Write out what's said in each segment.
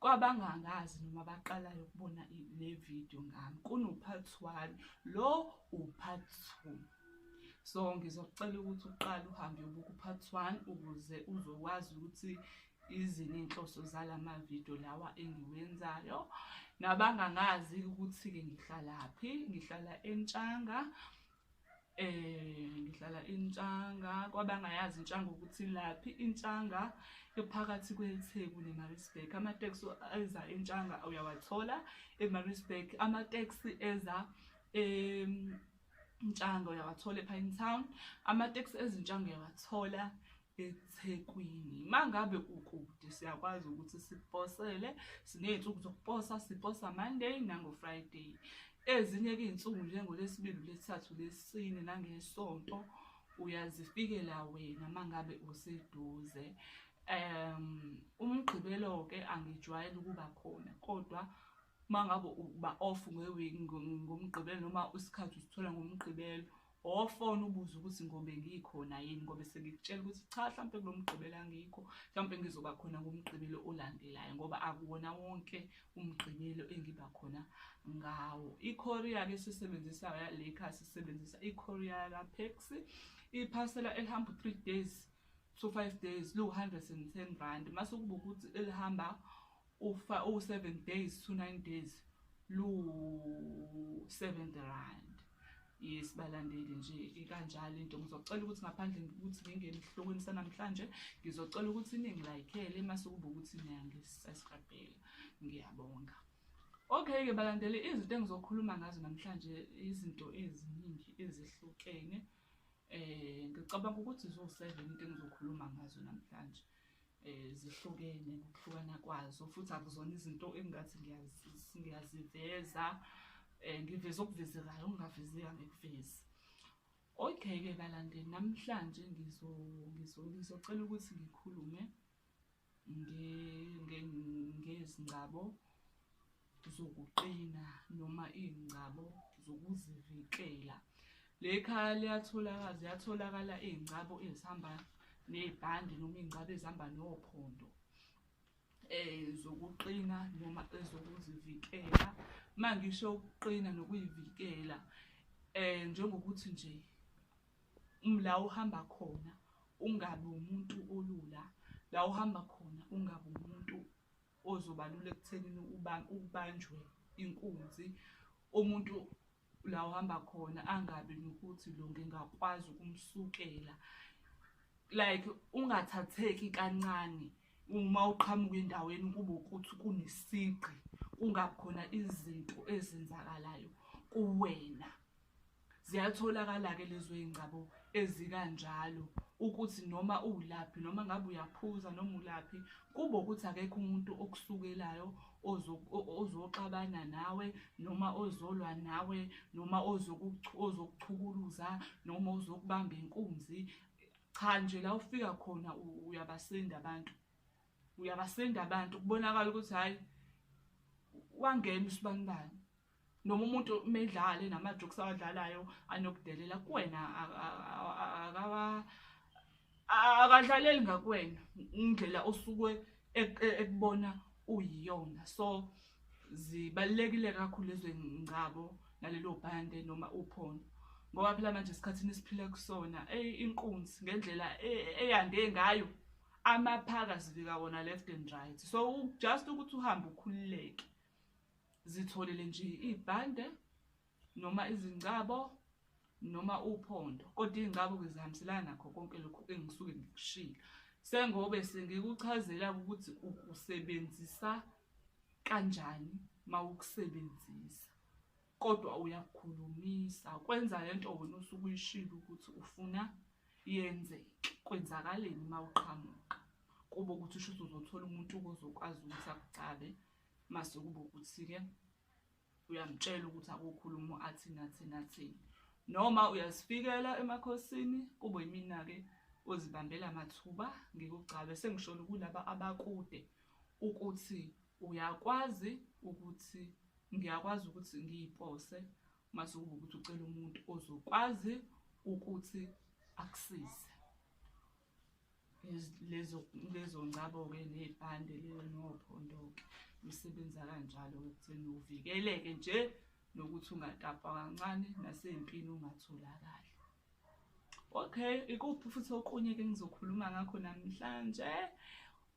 Kwabangangazi noma baqalayo ukubona le video ngami kunopart one lo upart two so ngizocela ukuthi uqale uhambe ubuka upart one ukuze uzokwazi ukuthi izini inhloso zala mavidiyo lawa engiwenzayo nabangangazi ukuthi-ke ngihlalaphi ngihlala entshanga Eh ngihlala intshanga kwabangayazi intshanga ukuthi laphi intshanga ephakathi kweTheku neMaritzburg amateksi eza intshanga uyawathola eMaritzburg amateksi eza em intshanga uyawathola ePine Town amateksi ezintshanga uyawathola eThekwini mangabe ukude siyakwazi ukuthi siposele siney'nsuku zokuposa siposa Monday nango-Friday ezinye-ke iy'nsuku njengolesibili lesithathu lesine nangesonto uyazifikela wena mangabe useduze um umgqibelo-ke angijwayele ukuba khona kodwa mangabe uba off ngomgqibelo noma isikhathi usithola ngomgqibelo owafona ubuze ukuthi ngobe ngikhona yini ngobe sengikutshela ukuthi cha mhlawumpe kulo mgqibelo angikho mhlawumpe ngizoba khona ngomgqibelo olandelayo ngoba akuwona wonke umgqibelo engiba khona ngawo ikorea ke sisebenzisa le kha sisebenzisa ikorea la pexi iphasela elihamba 3 days so 5 days lu 110 rand mase kuba ukuthi elihamba ufa u 7 days to 9 days lu 7 rand yes balandeli nje ikanjalo into ngizocela ukuthi ngaphandle ukuthi ngingene esihlokweni sanamhlanje ngizocela ukuthi iningi layikhele mase kuba ukuthi niyangisaskrabhela ngiyabonga okay ke balandeli izinto engizokhuluma ngazo namhlanje izinto eziningi ezihlukene eh ngicabanga ukuthi zo 7 into engizokhuluma ngazo namhlanje eh zihlukene ngokuhlukana kwazo futhi akuzona izinto engathi ngiyaziveza eh ngiveza okuvezekayo okungavezeka ngekuvezi okay ke balandeli namhlanje ngizo ngizo ngizocela ukuthi ngikhulume ngezingcabo zokuqina noma iy'ngcabo zokuzivikela. Le khaya liyatholakala ziyatholakala iy'ngcabo ezihamba ney'bhande noma iy'ngcabo ezihamba nophondo um zokuqina noma ezokuzivikela. Uma ngisho ukuqina nokuyivikela um njengokuthi nje la uhamba khona ungabi umuntu olula, la uhamba khona ungabi umuntu ozobalula ekuthenini ukubanjwe inkunzi umuntu la uhamba khona angabi nokuthi lo ngingakwazi ukumsukela like ungathatheki kancane uma uqhamuka endaweni kube ukuthi kunesigqi kungakhona izinto ezenzakalayo kuwena Ziyatholakala-ke lezo y'ngcabo ezikanjalo ukuthi noma uwulaphi noma ngabe uyaphuza noma ulaphi kube ukuthi akekho umuntu okusukelayo ozoxabana nawe noma ozolwa nawe noma ozokuchukuluza noma ozokubamba inkunzi cha nje la ufika khona uyabasinda abantu uyabasinda abantu kubonakala ukuthi hhayi wangena usibanibani noma umuntu medlale namajokes awadlalayo anokudelela kuwena akawa akadlaleli ngakuwena indlela osuke e, e, ekubona uyiyona so zibalekile kakhulu ezwengcabo nalelo bhande noma uphondo ngoba phela manje esikhathini esiphila kusona ey inkunzi ngendlela e, eyande ngayo amaphaka sivika wona left and right so just ukuthi uhambe ukhululeke zitholele nje ibhande noma izingcabo noma uphondo kodwa iy'ngcabo ngizihambiselana nakho konke lokhu engisuke ngikushilo sengobe sengikuchazela ukuthi ukusebenzisa kanjani uma ukusebenzisa kodwa uyakukhulumisa kwenza le nto wena usuke uyishilo ukuthi ufuna yenzeke kwenzakaleni uma uqhamuka kube ukuthi usho ukuthi uzothola umuntu ozokwazi ukuthi akucabe mase kube ukuthi-ke uyamtshela ukuthi akukhulumo athini athini athini noma uyazifikela emakhosini kube yimina-ke ozibambela mathuba ngikugcabe sengisholo kulaba abakude ukuthi uyakwazi ukuthi ngiyakwazi ukuthi ngiyipose mase kube ukuthi ucela umuntu ozokwazi ukuthi akusize lezo lezo ngcabo-ke ney'pande leyo nophondo-ke lusebenza kanjalo-ke ekutheni uvikeleke nje nokuthi ungatapwa kancane nasey'mpini ungatholakali okay ikuphi futhi okunye-ke ngizokhuluma ngakho namhlanje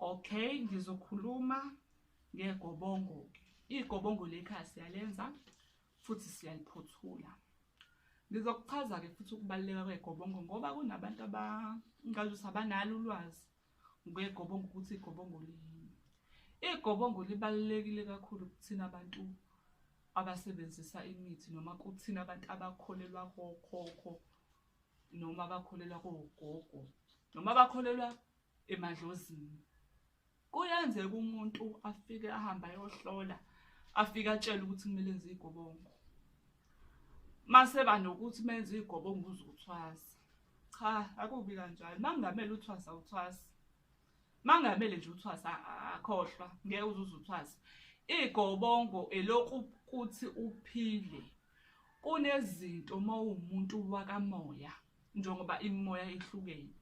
okay ngizokhuluma ngegobongo-ke igobongo lekhaya siyalenza futhi siyayiphothula ngizokuchaza-ke futhi ukubaluleka kwegobongo ngoba kunabantu abangazi ukuthi abanalo ulwazi ngegobongo ukuthi igobongo liyini igobongo libalulekile kakhulu kuthina abantu abasebenzisa imithi noma kuthina abantu abakholelwa kokhokho noma abakholelwa kogogo noma abakholelwa emadlozini kuyenzeka umuntu afike ahambe ayohlola afike atshele ukuthi kumele enze igobongo mase banokuthi menze igobongo uzothwasa cha akubi kanjalo mangamele uthwasa uthwasa mangamele nje uthwasa akhohlwa ngeke uzuze uthwasa igobongo elokhu kuthi uphile kunezinto uma uwumuntu wakamoya njengoba imimoya ihlukene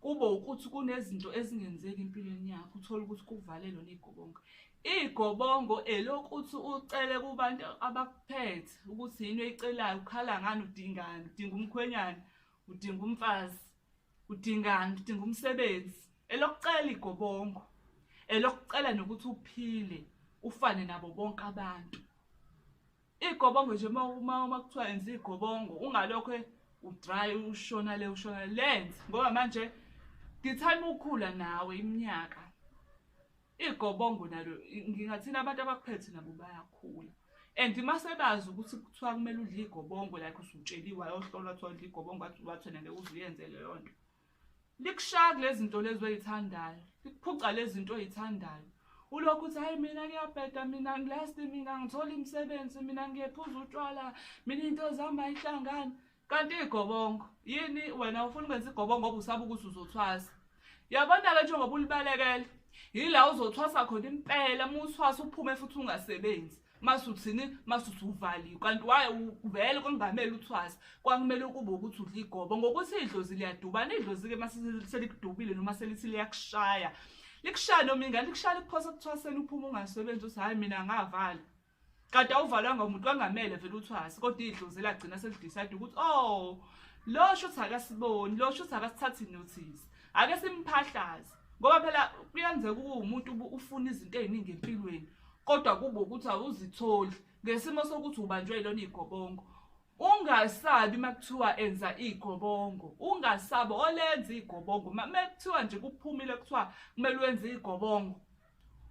kube ukuthi kunezinto ezingenzeki empilweni yakho uthole ukuthi kuvalelwe ney'gobongo iy'gobongo elokuthi ucele kubantu abakuphethe ukuthi yini oyicelayo ukhala ngani udingani udinga umkhwenyana udinga umfazi udingani udinga umsebenzi elokucela igobongo elokucela nokuthi uphile ufane nabo bonke abantu Igobongo nje uma uma uma kuthiwa yenza igobongo ungalokho e- udry ushona le ushona le. lenze ngoba manje ngithanda ukukhula nawe iminyaka. Igobongo nalo i- ngingathina abantu abakuphethe nabo bayakhula. And uma sebazi ukuthi kuthiwa kumele udle igobongo like usutsheliwe ayohlolwa kuthiwa udle igobongo wathi wathi nale uzuyenze leyo nto. likushaya kulezinto lezi oyithandayo likuphuca lezinto oyithandayo ulokhu uthi hayi mina ngiyabheda mina ngilasti mina ngithola imisebenzi mina ngiyephuza utshwala mina into zami ayihlangani kanti igobongo yini wena ufuna ukwenza igobongo ngoba usaba ukuthi uzothwasa yabona-ke njengoba ulibalekele yila uzothwasa khona impela uma uthwasa uphume futhi ungasebenzi masuthini masuthi uvaliwe kanti waye vele kwakungamele uthwasa kwakumele ukube ukuthi udla igobo ngokuthi idlozi liyadubana idlozi-ke maselikudubile noma selithi liyakushaya likushaya noma ingane likushaya likuphosa kuthwaseni uphuma ungasebenzi uthi hhayi mina ngavala kade awuvalwanga umuntu kwangamele vele uthwase kodwa idlozi elagcina selidicide ukuthi o oh, lo shuthi akasiboni lo shuthi akasithathi nothisi ake simphahlaze ngoba phela kuyenzeka ukuba umuntu ufuna izinto eziningi empilweni kodwa kube ukuthi awuzitholi ngesimo sokuthi ubanjwe ilona igobongo ungasabi makuthiwa enza igobongo ungasabi olenza igobongo makuthiwa nje kuphumile kuthiwa kumele wenze igobongo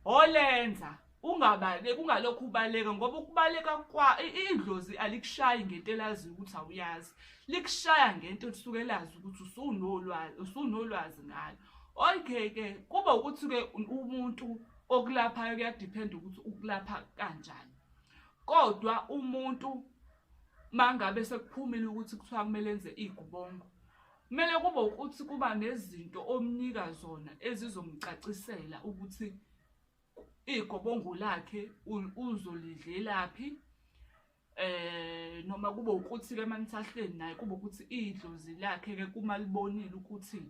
olenza ungabaleki ungalokhu ubaleka ngoba ukubaleka kwa idlozi alikushayi ngento elazi ukuthi awuyazi likushaya ngento osuke lazi ukuthi usunolwazi usunolwazi ngalo okay ke kuba ukuthi ke umuntu okulaphayo kuyadependa ukuthi ukulapha kanjani kodwa umuntu mangabe sekuphumile ukuthi kuthiwa kumele enze igubongo Kumele kube ukuthi kuba nezinto omnika zona ezizomcacisela ukuthi igobongo lakhe uzolidlelaphi eh noma kube ukuthi ke manithahleni naye kube ukuthi idlozi lakhe ke kuma libonile ukuthi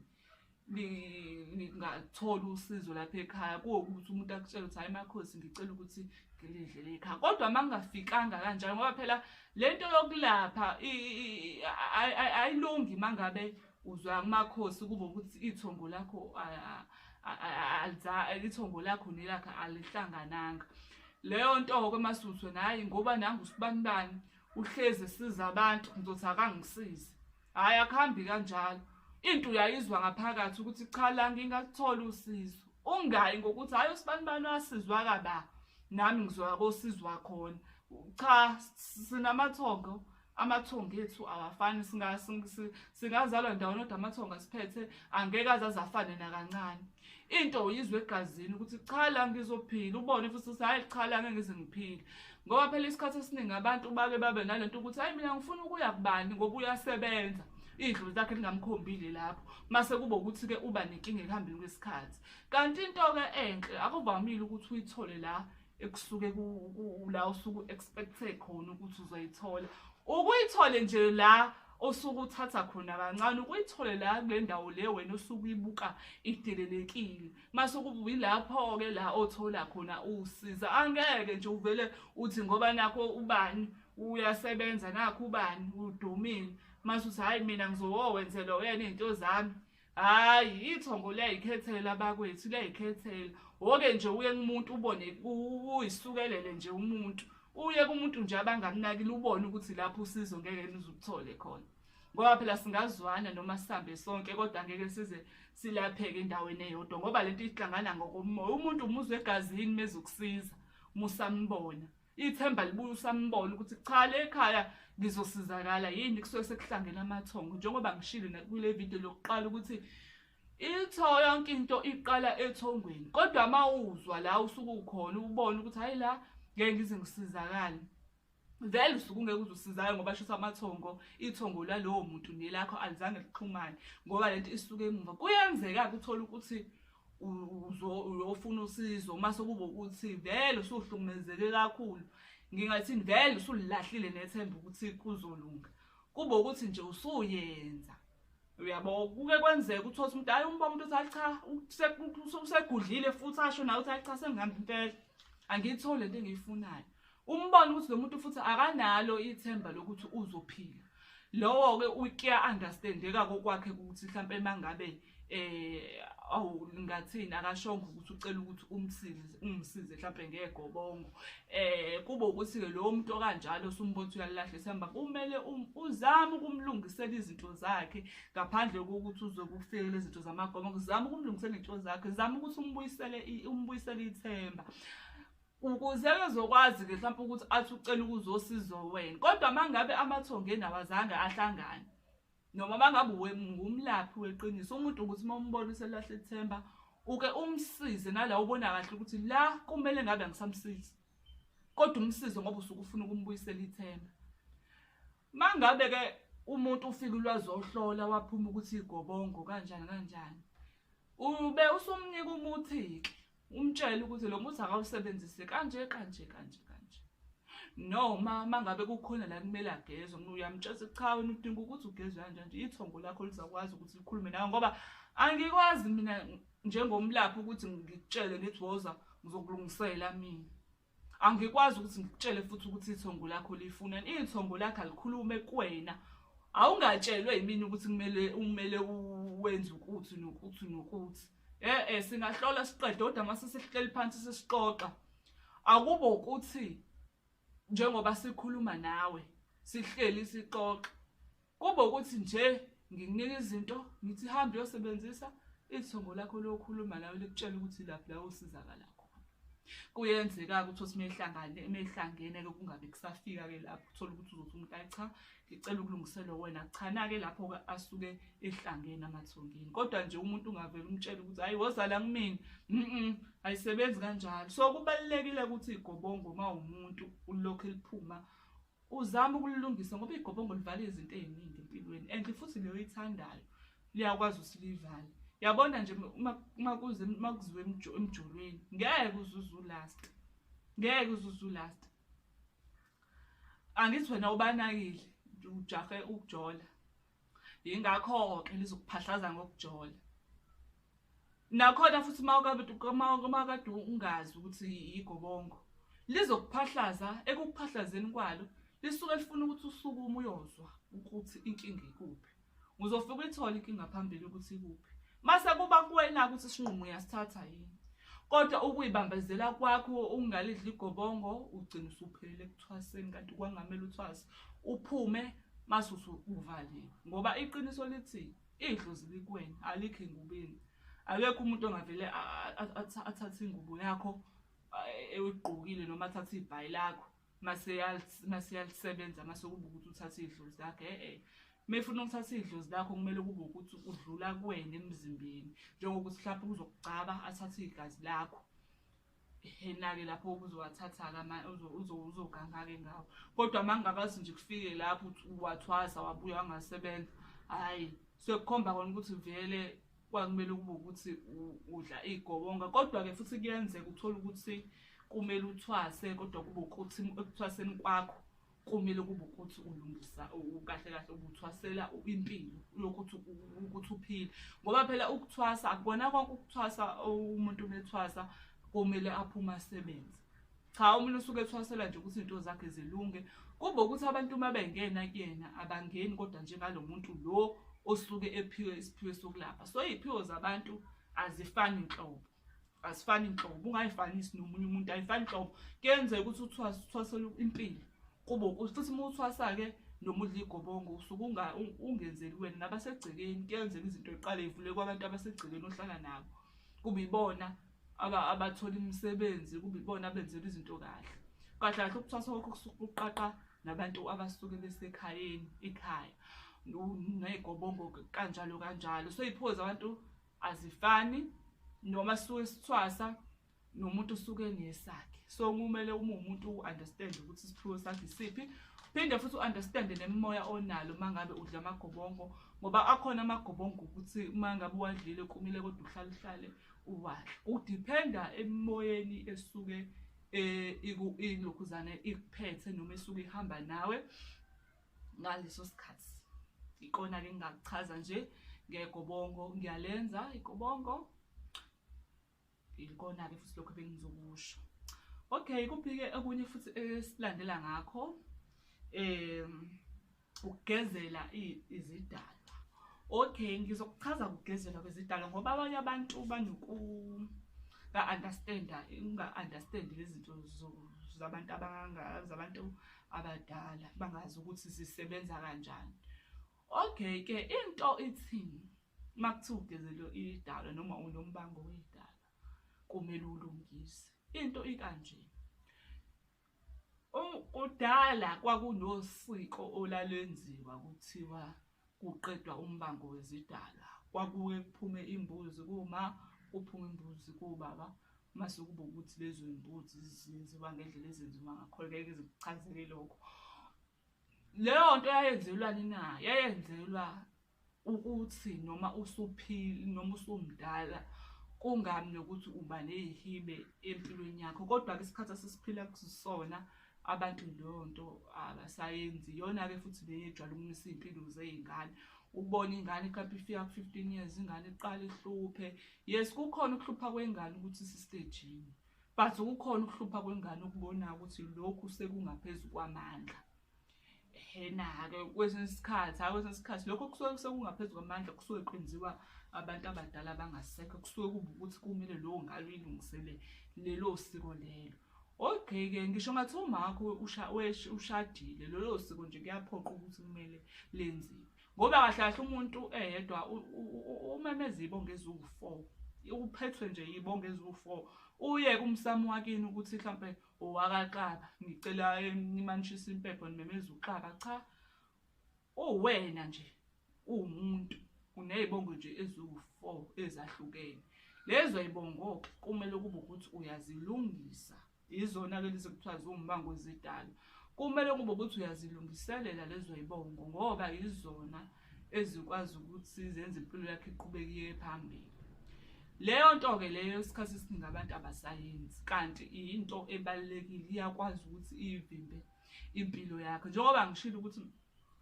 ningathola usizo lapha ekhaya kuwukuthi umuntu akutshela ukuthi hayi makhosi ngicela ukuthi ngilidlele ekhaya kodwa uma kungafikanga kanjalo ngoba phela lento yokulapha ayilungi mangabe uzwa amakhosi kube ukuthi ithongo lakho ithongo lakho nelakhe alihlangananga leyo nto-ke masuthu naye ngoba nangu usibanibani uhlezi esiza abantu ngizothi akangisize hhayi akuhambi kanjalo into uyayizwa ngaphakathi ukuthi cha la ngingakutholi usizo ungayi ngokuthi hhayi usibani bani wasizwa kaba nami ngizoya kosizwa khona cha sinamathongo amathongo ethu awafani singazalwa ndawonodwa amathongo asiphethe angeke aze azafane nakancane into uyizwa egazini ukuthi cha la ngizophila ubone futhi ukuthi hhayi cha la ngeke ngize ngiphile ngoba phela isikhathi esiningi abantu bake babe nale nto ukuthi hhayi mina ngifuna ukuya kubani ngoba uyasebenza idlozi lakhe lingamkhombile lapho mase kube ukuthi-ke uba nenkinga ekuhambeni kwesikhathi kanti into-ke enhle akuvamile ukuthi uyithole la ekusuke la usuke u-expecte khona ukuthi uzoyithola ukuyithole nje la osuke uthatha khona kancane ukuyithole la kule ndawo le wena osuke uyibuka idelelekile mase kubuyi lapho-ke la othola khona usiza angeke nje uvele uthi ngoba nakho ubani uyasebenza nakho ubani udumile mase uthi hhayi mina ngizowowenzela uyena iy'nto zami hayi ithongo liyayikhethela bakwethu liyayikhethela woke nje uye kumuntu ubone uyisukelele nje umuntu uye kumuntu nje abangamnakile ubone ukuthi lapho usizo ngeke nizukuthole khona ngoba phela singazwana noma sihambe sonke kodwa ngeke size silapheke endaweni eyodwa ngoba lento ihlangana ngokomoya umuntu umuzwe egazini mezokusiza musambona ithemba libuye usambona ukuthi cha le khaya ngizosizakala yini kusuke sekuhlangene amathongo njengoba ngishilo nakule video lokuqala ukuthi itho yonke into iqala ethongweni kodwa uma uzwa la usuke ukhona ubone ukuthi hhayi la ngeke ngize ngisizakale vele usuke ungeke uze usizakale ngoba shisa amathongo ithongo lalowo muntu nelakho alizange lixhumane ngoba le nto isuke emuva kuyenzeka-ke uthole ukuthi uyofuna usizo uma sekuba ukuthi vele usuhlukumezeke kakhulu ngingathi vele usulilahlile nethemba ukuthi kuzolunga kube ukuthi nje usuyenza uyabo kuke kwenzeka ukuthi othi umuntu ayi umba umuntu othi acha usegudlile futhi asho nawe uthi acha sengihambe impela angiyithole into engiyifunayo umbone ukuthi lo muntu futhi akanalo ithemba lokuthi uzophila lowo-ke ukuya-understandeka kokwakhe ukuthi mhlawumpe uma ngabe eh awu ngathini akashongo ukuthi ucela ukuthi umsize umsize mhlawumbe ngegobongo eh kube ukuthi ke lowo muntu okanjalo usumbotho uyalahle sihamba kumele um, uzame ukumlungisela izinto zakhe ngaphandle kokuthi uzokufikela izinto zamagobongo zama ukumlungisela izinto zakhe zama ukuthi umbuyisele umbuyisele ithemba ukuze ezokwazi ke mhlawumbe ukuthi athi ucela ukuzosiza wena kodwa mangabe amathongo enawazange ahlangane noma mangabe ngumlaphi weqiniso umuntu ukuthi uma umbona uselahle ithemba uke umsize nala ubona kahle ukuthi la kumele ngabe ngisamsizi kodwa umsize ngoba usuke ufuna ukumbuyisela ithemba Mangabe ke umuntu ufika ulwazohlola waphuma ukuthi igobongo kanjani kanjani. Ube usumnika umuthi ke umtshela ukuthi lo muthi akawusebenzise kanje kanje kanje kanje. Noma mangabe kukhona la kumele agezwe umuntu uyamtshela ukuthi cha wena udinga ukuthi ugezwe kanje nje ithongo lakho lizakwazi ukuthi likhulume nawe ngoba angikwazi mina njengomlaphi ukuthi ngikutshele ngithi woza ngizokulungisela mina. angikwazi ukuthi ngikutshele futhi ukuthi ithongo lakho lifunani ithongo lakho alikhulume kuwena awungatshelwe yimini ukuthi kumele umele wenze ukuthi nokuthi nokuthi eh eh singahlola siqede kodwa mase sihleli phansi sisixoxa akubo ukuthi njengoba sikhuluma nawe sihleli sixoxa Kube ukuthi nje ngikunika izinto ngithi hamba uyosebenzisa ithongo lakho lokhuluma nawe likutshela ukuthi laphi la usizakala khona. Kuyenzeka-ke ukuthi othi mehlangane mehlangene ke kungabe kusafika ke lapho uthola ukuthi uzothi umuntu ayi cha ngicela ukulungiselwa wena cha nake lapho ke asuke ehlangene amathongeni kodwa nje umuntu ungavela umtshela ukuthi hayi wozala kumina mhm ayisebenzi kanjalo so kubalekile ukuthi igobongo uma umuntu ulokhu eliphuma uzama ukulilungisa ngoba igobongo livala izinto eziningi empilweni and futhi leyo ithandayo liyakwazi usilivale yabona nje uma kuze uma kuziwe emjolweni ngeke uzuze ulast ngeke uzuze ulast angithi wena ubanakile ujahe ukujola yingakho-ke lizokuphahlaza ngokujola nakhona futhi makade ungazi ukuthi yigobongo lizokuphahlaza ekukuphahlazeni kwalo lisuke lifuna ukuthi usukume uyozwa ukuthi inkinga ikuphi ngizofika uyithole inkinga phambili ukuthi ikuphi Mase kuba kuwena ukuthi isinqumo uyasithatha yini. Kodwa ukuyibambezela kwakho ungalidli igobongo ugcina usuphelele ekuthwaseni kanti kwangamele uthwase uphume masusu uvaliwe ngoba iqiniso lithi idlozi likwena alikho engubeni akekho umuntu ongavele athathe ingubo yakho ewugqokile noma athathe ibhayi lakho maseyalisebenza mase kube ukuthi uthatha iy'dlozi lakhe e-e mefuna ukuthatha iy'dlozi lakho kumele kube ukuthi udlula kuwena emzimbeni njengokuthi mhlawumpe uzokugcaba athathe igazi lakho enake lapho uzowathatha-ke uzoganga-ke ngawo kodwa uma ngingakwazi nje kufike lapho wathwasa wabuya wangasebenza hhayi sekukhomba kona ukuthi vele kwakumele kube ukuthi udla igobonga kodwa-ke futhi kuyenzeka uthole ukuthi kumele uthwase kodwa kube ukuthi ekuthwaseni kwakho kumele kube ukuthi ulungisa kahle kahle ubuthwasela impilo lokhu ukuthi uphile ngoba phela ukuthwasa akubona konke ukuthwasa umuntu umethwasa kumele aphume asebenze cha umuntu usuke ethwasela nje ukuthi into zakhe zilunge kube ukuthi abantu uma bengena kuyena abangeni kodwa njengalo muntu lo osuke ephiwe isiphiwe sokulapha so iy'phiwo zabantu azifani nhlobo azifani nhlobo ungayifanisi nomunye umuntu ayifani nhlobo kuyenzeka ukuthi uthwasela impilo kube futhi uma uthwasa-ke noma udla igobongo usuke ungenzeli wena nabasegcekeni kuyenzeka izinto eqale ivule kwabantu abasegcekeni ohlala nabo kube ibona aba abatholi imisebenzi kube ibona abenzela izinto kahle kahle kahle ukuthwasa kwakho kusuke kuqaqa nabantu abasuke besekhayeni ikhaya ney'gobongo kanjalo kanjalo so iy'phuko zabantu azifani noma suke sithwasa nomuntu usuke nesakhe so kumele uma umuntu u-understand ukuthi isiphiwo sakhe isiphi phinde futhi u-understande nemimoya onalo uma ngabe udla amagobongo ngoba akhona amagobongo ukuthi uma ngabe uwadlile kumile kodwa uhlale uhlale Wash. Udependa emoyeni esuke eh iku ilokhuzane ikuphethe noma esuke ihamba nawe ngaleso sikhathi. Ikona ke ngingakuchaza nje ngegobongo ngiyalenza igobongo. Ikona ke futhi lokho bengizokusho. Okay, kuphike okunye futhi esilandela ngakho. Eh ukugezela izidalwa okay ngizokuchaza ukugezela kwezidalwa ngoba abanye abantu banoku ka-understanda unga-understandi izinto zabantu abangangazi abantu abadala bangazi ukuthi zisebenza kanjani okay ke into ithini uma kuthiwa ugezelo idalwa noma unombango weyidalwa kumele ulungise into ikanje Um, kudala kwakunosiko olalwenziwa kuthiwa kuqedwa umbango wezidalwa kwakuke kuphume imbuzi kuma kuphume imbuzi kubaba mase kuba ukuthi lezo mbuzi zenziwa ngendlela ezenziwa ngakhona ngeke zikuchazele lokho leyo nto yayenzelwani na yayenzelwa ukuthi noma usuphili noma usumdala kungami nokuthi uba neyihibe empilweni yakho kodwa-ke isikhathi asisiphila kusona abantu leyo nto abasayenzi iyona-ke futhi le yejwala ukumisa iy'mpilo zey'ngane ubone ingane iqapha ifika ku-fifteen years ingane iqala ihluphe yes kukhona ukuhlupha kwengane ukuthi isistejini but kukhona ukuhlupha kwengane ukubona ukuthi lokhu sekungaphezu kwamandla hena-ke kwesinye isikhathi hayi kwesinye isikhathi lokho kusuke sekungaphezu kwamandla kusuke kwenziwa abantu abadala abangasekho kusuke kuba ukuthi kumele lowo ngalo ilungisele lelo siko lelo ogqike ngisho ngathi umakho ushadile lolo siko nje kuyaphoqa ukuthi kumele lenziwe ngoba kahle kahle umuntu eyedwa umemeza ibonga eziwu-four uphethwe nje yibonga eziwu-four uye kumsamo wakini ukuthi mhlawumpe owakaqaba ngicela nimanishisa impepho nimemeza uqaba cha uwena nje uwumuntu uney'bongo nje eziwu-four ezahlukene lezo y'bongo-ke kumele kube ukuthi uyazilungisa Yizona-ke lezi kuthiwa ziwumbango zidalo. Kumele kube ukuthi uyazilungiselela lezo yibongo ngoba yizona ezikwazi ukuthi zenze impilo yakho iqhubeke iye phambili. Leyo nto-ke leyo isikhathi esiningi abantu abasayenzi kanti into ebalulekile iyakwazi ukuthi iyivimbe impilo yakho njengoba ngishilo ukuthi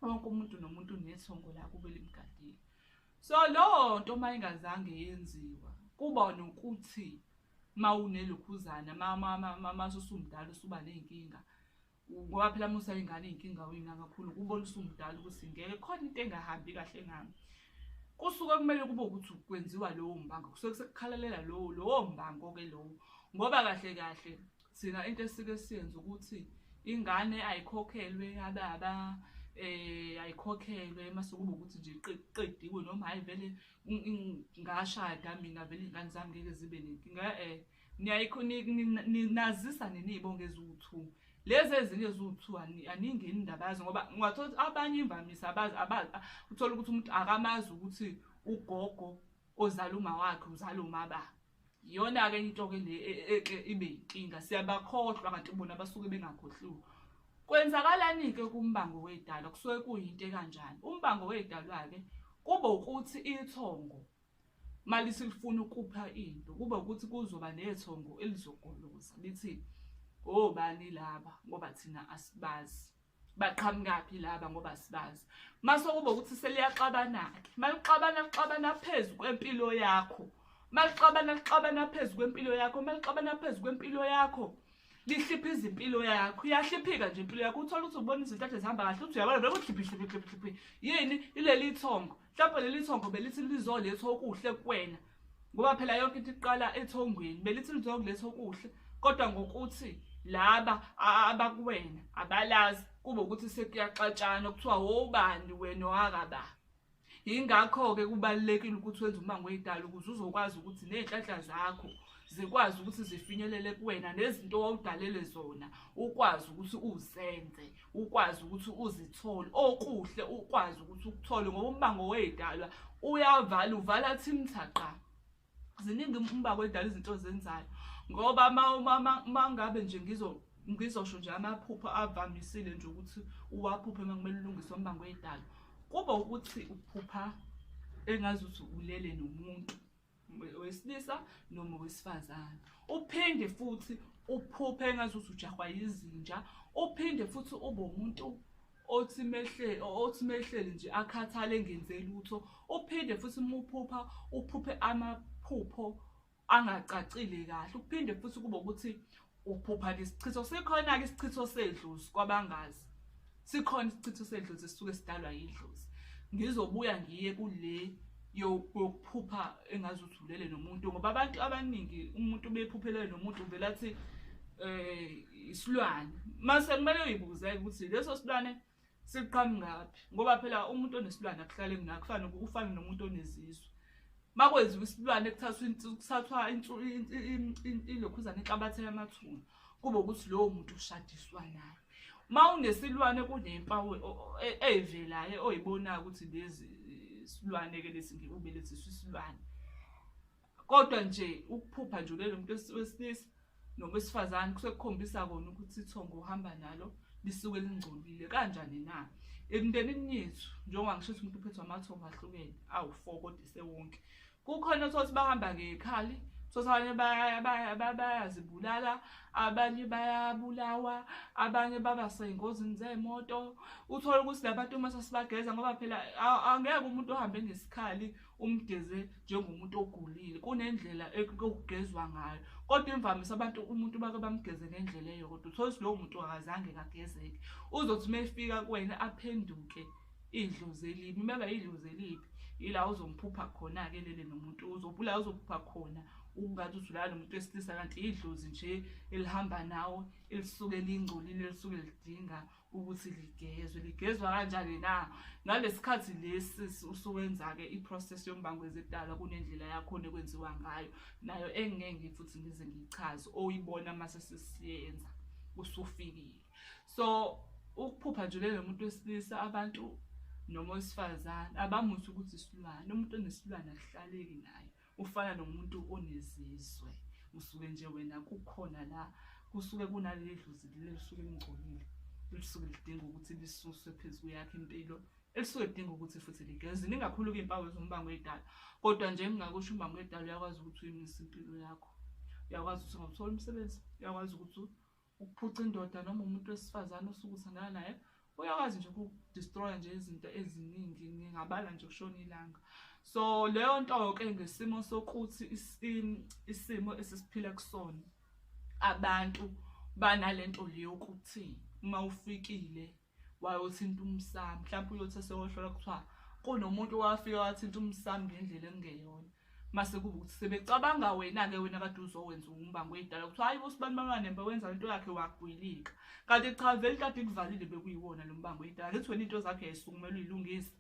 wonke umuntu nomuntu unethongo lakubo elimgadile. So leyo nto uma ingazange yenziwa kuba nokuthi mawunelokhuzana masusumdala usuba ney'nkinga ngoba phela musa ingane iy'nkinga wina kakhulu kubona usumdala ukuthi ngeke khona into engahambi kahle ngami kusuke kumele kube ukuthi kwenziwa lowo mbango kusuke sekukhalalela lowo lowo mbango-ke lowo ngoba kahle kahle thina into esike siyenze ukuthi ingane ayikhokhelwe ababa um ayikhokhelwe mase kube ukuthi nje qediwe noma hhayi vele ngashada mina vele iy'ngane zami ngeke zibe nenkinga e-e niyayikho ninazisa nini iy'bongo eziwu-two lezi ezinye eziwu-two aniyingeni indaba yazo ngoba ungathola ukuthi abanye imvamisa abazi abazi uthole ukuthi umuntu akamazi ukuthi ugogo ozala umawakhe uzala umababa iyona-ke into-ke le e, e, e, ibe yinkinga siyabakhohlwa kanti bona basuke bengakhohliwe kwenzakalani-ke kumbango wedalwa kusuke kuyinto ekanjani umbango wedalwa-ke kube ukuthi ithongo malithi lifuna ukupha into kube ukuthi kuzoba nethongo elizogoloza lithi obani laba ngoba thina asibazi baqhamukaphi laba ngoba sibazi mase kube ukuthi seliyaxabana-ke malixabana lixabana phezu kwempilo yakho malixabana lixabana phezu kwempilo yakho malixabana phezu kwempilo yakho lihlipha izimpilo yakho iyahliphika nje impilo yakho uthole ukuthi ubona izintathe zihamba kahle uthi uyabona vele kuhliphihliphihliphi yini ileli ithongo mhlawumbe leli thongo belithi lizolethwa okuhle kuwena ngoba phela yonke into iqala ethongweni belithi lizokuletha okuhle kodwa ngokuthi laba abakuwena abalazi kube ukuthi sekuyaxatshana kuthiwa wobani wena owakaba yingakho-ke kubalulekile ukuthi wenze umango oyidala ukuze uzokwazi ukuthi ney'nhlanhla zakho zikwazi ukuthi zifinyelele kuwena nezinto owawudalele zona ukwazi ukuthi uzenze ukwazi ukuthi uzithole okuhle ukwazi ukuthi ukuthole ngoba umbango wey'dalwa uyavala uvala thimthaqa ziningi umbango wey'dalwa izinto zenzayo ngoba mangabe nje ngizo ngizosho nje amaphupho avamisile nje ukuthi uwaphuphe uma kumele ulungise umbango wey'dalwa kuba ukuthi uphupha engazuthi ulele nomuntu wesilisa noma wesifazane uphinde futhi uphuphe engathi uthi ujahwa yizinja uphinde futhi ube umuntu othi mehlele othi mehlele nje akhathale ngenze lutho uphinde futhi umuphupha uphuphe amaphupho angacacile kahle uphinde futhi kube ukuthi ukuphupha ke isichitho sikhona ke isichitho sedlozi kwabangazi sikhona isichitho sedlozi sisuke sidalwa yidlozi ngizobuya ngiye kule yokuphupha engazi ukuthi ulele nomuntu ngoba abantu abaningi umuntu bephuphelele nomuntu uvela athi eh isilwane mase kumele uyibuze ukuthi leso silwane siqhamukaphi ngoba phela umuntu onesilwane akuhlale mina kufana ufana nomuntu onezizwe makwenziwa isilwane kuthathwa ilokhuzane inhlabathe yamathuna kube ukuthi lowo muntu ushadiswa naye uma unesilwane kunempawu e, eyivelayo oyibonayo ukuthi lezi silwane-ke lesi ngikubelethisa isilwane kodwa nje ukuphupha nje ulele umuntu wesilisa noma wesifazane kusuke kukhombisa kona ukuthi ithongo uhamba nalo lisuke lingcolile kanjani na emndenini yethu njengoba ngisho ukuthi umuntu uphethwe amathongo ahlukene awu-four kodwa isewonke kukhona othothi bahamba ngekhali thothi abanye bayazibulala abanye bayabulawa abanye baba sey'ngozini zey'moto uthole ukuthi la bantu uma sesibageza ngoba phela angeke umuntu ohambe ngesikhali umgeze njengomuntu ogulile kunendlela okugezwa ngayo kodwa imvamisa abantu umuntu bake bamgeze ngendlela eyodwa uthole ukuthi lowo muntu akazange kagezeke uzothi uma efika kuwena aphenduke idlozi elibi uma eba idlozi elibi yila uzomphupha khona-ke lele nomuntu uzobula uzophupha khona ukungathi udlulala nomuntu wesilisa kanti idlozi nje elihamba nawo elisuke lingcolile elisuke lidinga ukuthi ligezwe ligezwa kanjani na ngalesikhathi lesi usuwenza-ke i-process yombango ezidala kunendlela yakhona ekwenziwa ngayo nayo engingeke futhi ngize ngiyichaze oyibona uma sesisiyenza usufikile so ukuphupha nje lelo muntu wesilisa abantu noma owesifazane abamuthi ukuthi isilwane umuntu onesilwane akuhlaleki naye ufana nomuntu onezizwe usuke nje wena kukhona la kusuke kunaleli dlozi leli lisuke lingcolile lisuke lidinga ukuthi lisuswe phezu kweyakhe impilo elisuke lidinga ukuthi futhi ligeze ningakhulu kuy'mpawu ezombango edala kodwa nje ngingakusho umbango edala uyakwazi ukuthi uyimise impilo yakho uyakwazi ukuthi ungathola umsebenzi uyakwazi ukuthi ukuphuca indoda noma umuntu wesifazane osuke usangana naye uyakwazi nje ukudestroya nje izinto eziningi ngingabala nje kushona ilanga so leyo nto-ke ngesimo sokuthi isimo esisiphila kusona abantu banale nto le yokuthi uma ufikile wayothinta umsami mhlawumpe uyothi esewohlola kuthiwa kunomuntu owafika wathinta umsami ngendlela engeyona mase kuba ukuthi sebecabanga wena-ke wena kade uzowenza umbango oyidala kuthiwa hayi usibani bamanemba wenza into yakhe wagwilika kanti cha vele kade kuvalile bekuyiwona lo mbango oyidala ngithi wena into zakhe yayisukumela uyilungisa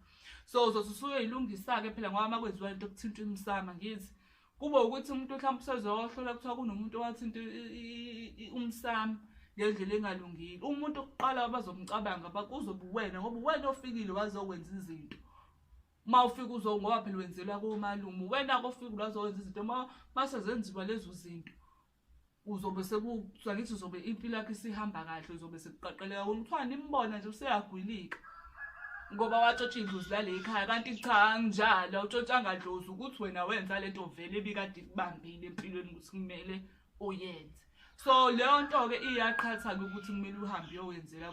so uzothi usuyoyilungisa-ke phela ngoba uma kwenziwa into kuthinta umsama ngithi kube ukuthi umuntu mhlawumbe usezohlola kuthiwa kunomuntu owathinta umsami ngendlela engalungile umuntu okuqala abazomcabanga bakuzobe uwena ngoba uwena ofikile wazokwenza izinto uma ufika uzo ngoba phela wenzelwa komalume uwena-ke ofikile wazokwenza izinto uma masezenziwa lezo zinto uzobe sekusakithi uzobe impilo yakhe isihamba kahle uzobe sekuqaqeleka wona kuthiwa nimbona nje useyagwilika ngoba watshotsha idlozi lale ekhaya kanti cha anginjalo awutshotshanga dlozi ukuthi wena wenza le nto vele ebikade ikubambile empilweni ukuthi kumele uyenze so leyo nto-ke iyaqhatha-ke ukuthi kumele uhambe uyowenzela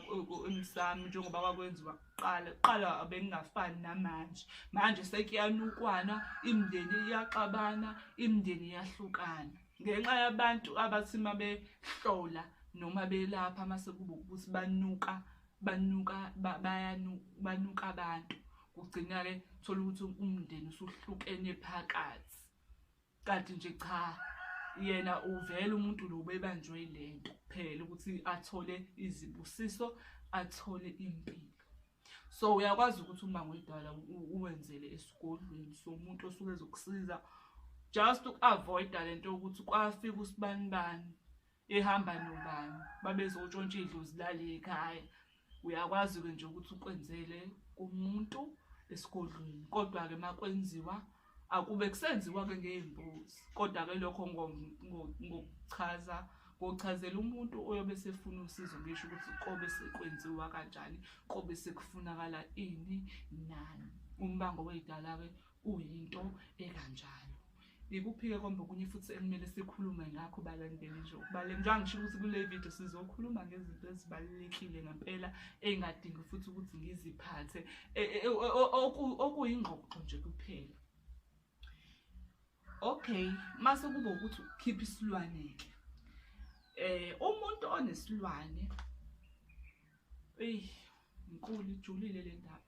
emsami njengoba kwakwenziwa kuqala kuqala bengingafani namanje manje sekuyanukwana imindeni iyaxabana imindeni iyahlukana ngenxa yabantu abathi uma behlola noma belapha uma sekuba ukuthi banuka banuka banuka abantu kugcina-ke thola ukuthi umndeni usuhlukene phakathi kanti nje cha yena uvele umuntu lo bebanjwe le nto kuphela ukuthi athole izibusiso athole impilo so uyakwazi ukuthi uma ngidala uwenzele esigodlweni somuntu osuke ezokusiza just uku-avoida le nto yokuthi kwafika usibanibani ehamba nobani babezotshontsha idlozi lale ekhaya uyakwazi-ke nje ukuthi ukwenzele kumuntu esigodlweni kodwa-ke uma kwenziwa akube kusenziwa-ke ngey'mbuzi kodwa-ke lokho ngokuchaza ngochazela umuntu oyobe sefuna usizo ngisho ukuthi kobe sekwenziwa kanjani kobe sekufunakala ini nani umbango wey'dala-ke uyinto ekanjalo ikuphi-ke kombe okunye futhi ekumele sikhulume ngakho balandeli nje ukubale njengoba ngisho ukuthi kule video sizokhuluma ngezinto ezibalulekile ngempela ey'ngadingi futhi ukuthi ngiziphathe e, e, okuyingxoxo nje kuphela okay mase kuba ukuthi ukhipha isilwane ke eh umuntu onesilwane ey inkulu ijulile le ndaba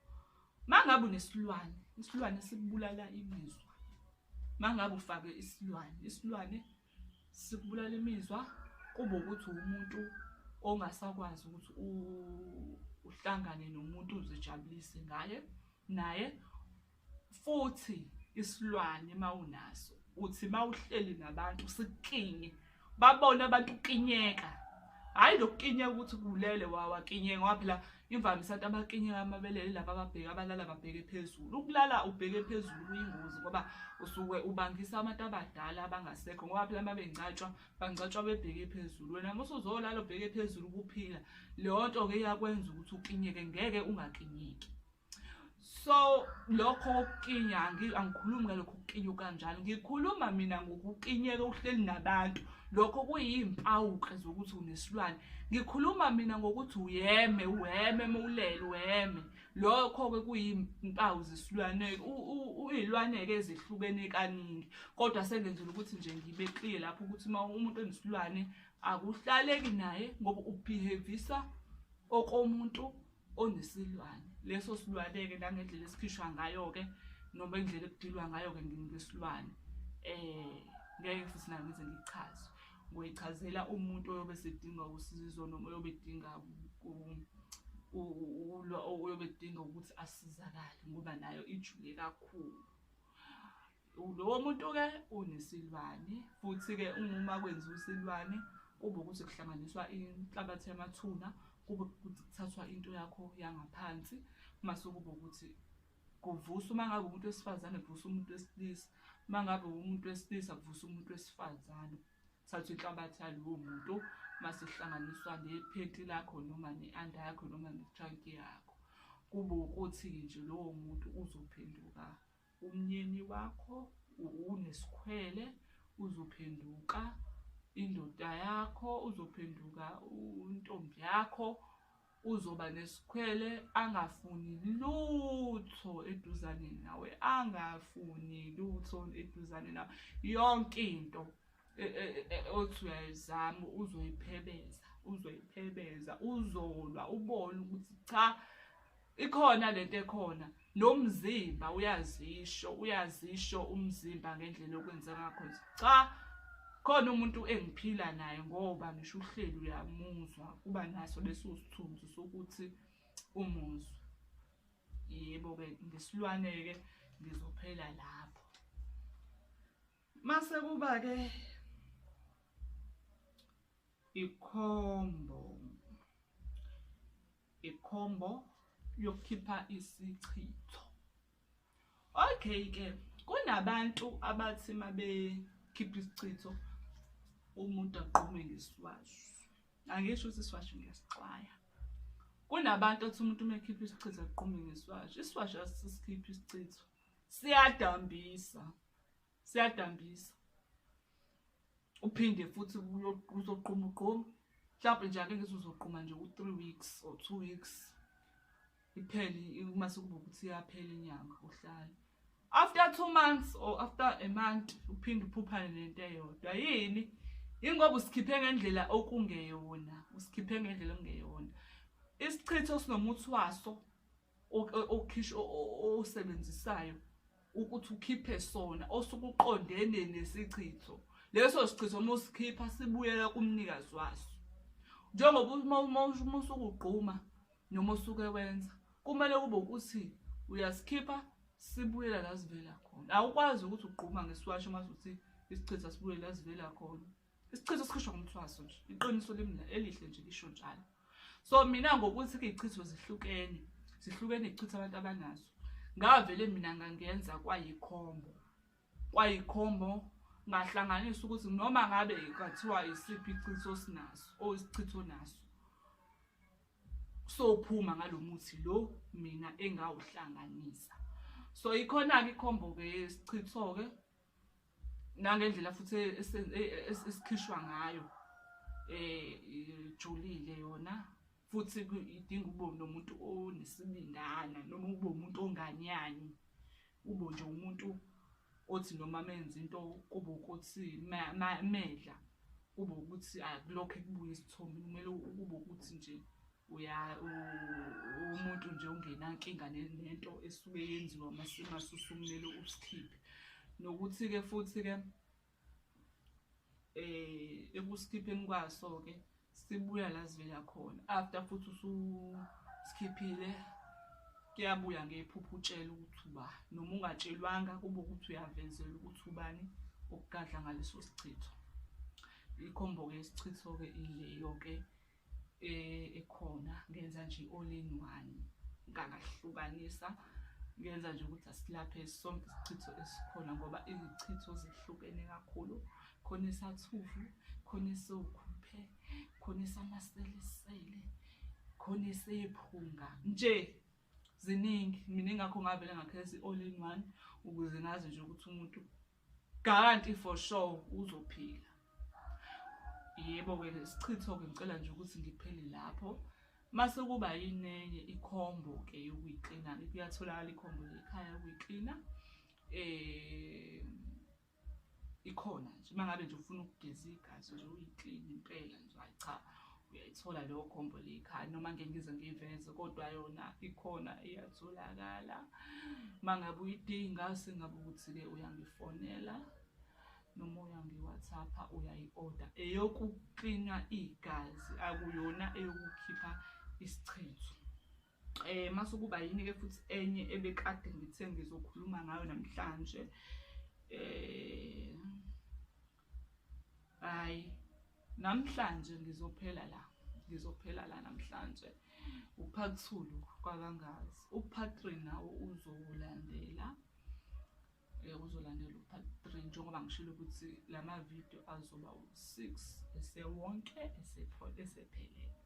mangabe unesilwane isilwane sikubulala imizwa mangabe ufake isilwane isilwane sikubulala imizwa kube ukuthi umuntu ongasakwazi ukuthi uhlangane nomuntu uzijabulise ngaye naye futhi isilwane mawunaso uthi mawuhleli nabantu sikinye babone abantu kinyeka hayi lokukinyeka ukuthi kulele wawakinyeka waphela Imvamisa abantu abakinyeka amabele yilaba ababheke abalala babheke phezulu. Ukulala ubheke phezulu kuyingozi ngoba usuke ubangisa abantu abadala abangasekho ngoba phela uma bengcatshwa bangcatshwa bebheke phezulu. Wena uma usuzolala ubheke phezulu kuphila leyo nto-ke iyakwenza ukuthi ukinyeke ngeke ungakinyeki. so lokho kokukinya angikhulumi ngalokho kukinywa kanjalo ngikhuluma mina ngokukinyeka uhleli nabantu lokho kuyimpawuke zokuthi unesilwane ngikhuluma mina ngokuthi uyeme uheme mowulele uheme lokho-ke kuyimpawu zesilwane uyilwane-ke ezihlukene kaningi kodwa sengenzela ukuthi nje ngibe clear lapho ukuthi uma umuntu onesilwane akuhlaleki naye ngoba ubehavisa okomuntu onesilwane leso silwane-ke nangendlela esikhishwa ngayo-ke noma indlela ekudilwa ngayo-ke ngesilwane um ngeke futhi nayo ngize ngichaze ngoyichazela umuntu oyobe sedinga usizo noma oyobe edinga oyobe edinga ukuthi asizakale ngoba nayo ijule kakhulu Lowo muntu-ke unesilwane futhi-ke uma kwenziwa isilwane kube ukuthi kuhlanganiswa inhlabathi yamathuna kube ukuthi kuthathwa into yakho yangaphansi mase kube ukuthi kuvusa uma ngabe umuntu wesifazane kuvusa umuntu wesilisa uma ngabe umuntu wesilisa kuvusa umuntu wesifazane thatha inhlabathi yalowo muntu mase kuhlanganiswa nephenti lakho noma ne-anda yakho noma ne-trunk yakho kube ukuthi nje lowo muntu uzophenduka Umnyeni wakho unesikhwele uzophenduka indoda yakho uzophenduka intombi yakho uzoba nesikhwele angafuni lutho eduzane nawe angafuni lutho eduzane nawe yonke into e, e, e, othi uyayizama uzoyiphebeza uzoyiphebeza uzolwa ubone ukuthi cha Ikhona lento ekhona nomzimba uyazisho uyazisho umzimba ngendlela okwenza ngakho cha khona umuntu engiphila naye ngoba ngisho uhleli uyamuzwa kuba naso leso sithunzi sokuthi umuzwa yebo ke ngesilwane ke ngizophela lapho mase kuba ke ikhombo ikhombo yokukhipha isichitho okay ke kunabantu abathi uma bekhipha isichitho umuntu agqume ngeswazi angisho ukuthi iswazi ngiyasixwaya kunabantu othi umuntu uma ekhipha isichitho agqume ngeswazi iswazi asisikhipha isichitho siyadambisa siyadambisa uphinde futhi uzoqhuma uqhuma mhlawumbe nje ake ngithi uzoqhuma nje u-three weeks or two weeks iphele uma sekuba ukuthi iyaphela inyanga uhlale after two months or after a month uphinde uphuphane nento eyodwa yini yingoba usikhiphe ngendlela okungeyona usikhiphe ngendlela okungeyona isichitho sinomuthi waso okhishwa osebenzisayo ukuthi ukhiphe sona osukuqondene nesichitho leso sichitho uma usikhipha sibuyela kumnikazi waso njengoba uma usukugquma noma usuke wenza kumele kube ukuthi uyasikhipha sibuyela la sivela khona awukwazi ukuthi ugquma ngesiwasho uma usuthi isichitha sibuyele la sivela khona isichitho sikhishwa ngomthwaso nje iqiniso limna elihle nje lisho njalo so mina ngokuthi ke ichitho zihlukene zihlukene ichitho abantu abanazo ngavele mina ngangenza kwayikhombo kwayikhombo ngahlanganisa ukuthi noma ngabe kathiwa isiphi ichitho sinaso o isichitho naso sophuma ngalomuthi lo mina engawuhlanganisa so ikhona ke ikhombo ke isichitho ke nangendlela futhi esikhishwa ngayo eh ijulile yona futhi idinga ube nomuntu onesibindana noma ube umuntu onganyanyi ube nje umuntu othi noma menza into kube ukuthi medla kube ukuthi akulokho ekubuya isithombe kumele kube ukuthi nje uya umuntu nje ungenankinga nento esuke yenziwa masusukumele usikhiphe nokuthi-ke futhi-ke um eh, ekusikhipheni kwaso-ke sibuya la sivela khona after futhi ususikhiphile kuyabuya ngephupho utshela ukuthi uba noma ungatshelwanga kube ukuthi uyavezela ukuthi ubani okugadla ngaleso sichitho ikhombo-ke isichitho-ke ileyo-ke eh, ekhona ngenza nje all in one ngangahlukanisa ngenza nje ukuthi asilaphe sonke isichitho esikhona ngoba izichitho zihlukene kakhulu khona esathuvu khona esokhuphe khona esamaselesele khona esephunga nje ziningi mina ingakho ngavele ngakhetha i-all in one ukuze ngazi nje ukuthi umuntu Kanti for sure uzophila. Yebo-ke lesichitho-ke ngicela nje ukuthi ngiphele lapho. Mase kuba yinenye ikhombo-ke yokuyiklina-ke kuyatholakala ikhombo lekhaya yokuyiklina. Eh ikhona nje uma ngabe nje ufuna ukugeza igazi nje uyikline impela nje hayi cha uyayithola leyo gombo likhaya noma ngeke ngize ngiyiveze kodwa yona ikhona iyatholakala uma ngabe uyidinga singabe ukuthi-ke uyangifonela noma uyangiwhatsappa uyayi-oda eyokuklinwa igazi akuyona eyokukhipha isichitho um eh, mase kuba yini-ke futhi enye ebekade ngithe ngizokhuluma ngayo namhlanje um hayi namhlanje ngizophela la ngizophela la namhlanje uphakuthulu kwakangazi uphatri nawo uzolandela eh, uzolandela uphatri njengoba ngishilo ukuthi la mavidiyo azoba u-six esewonke esephelele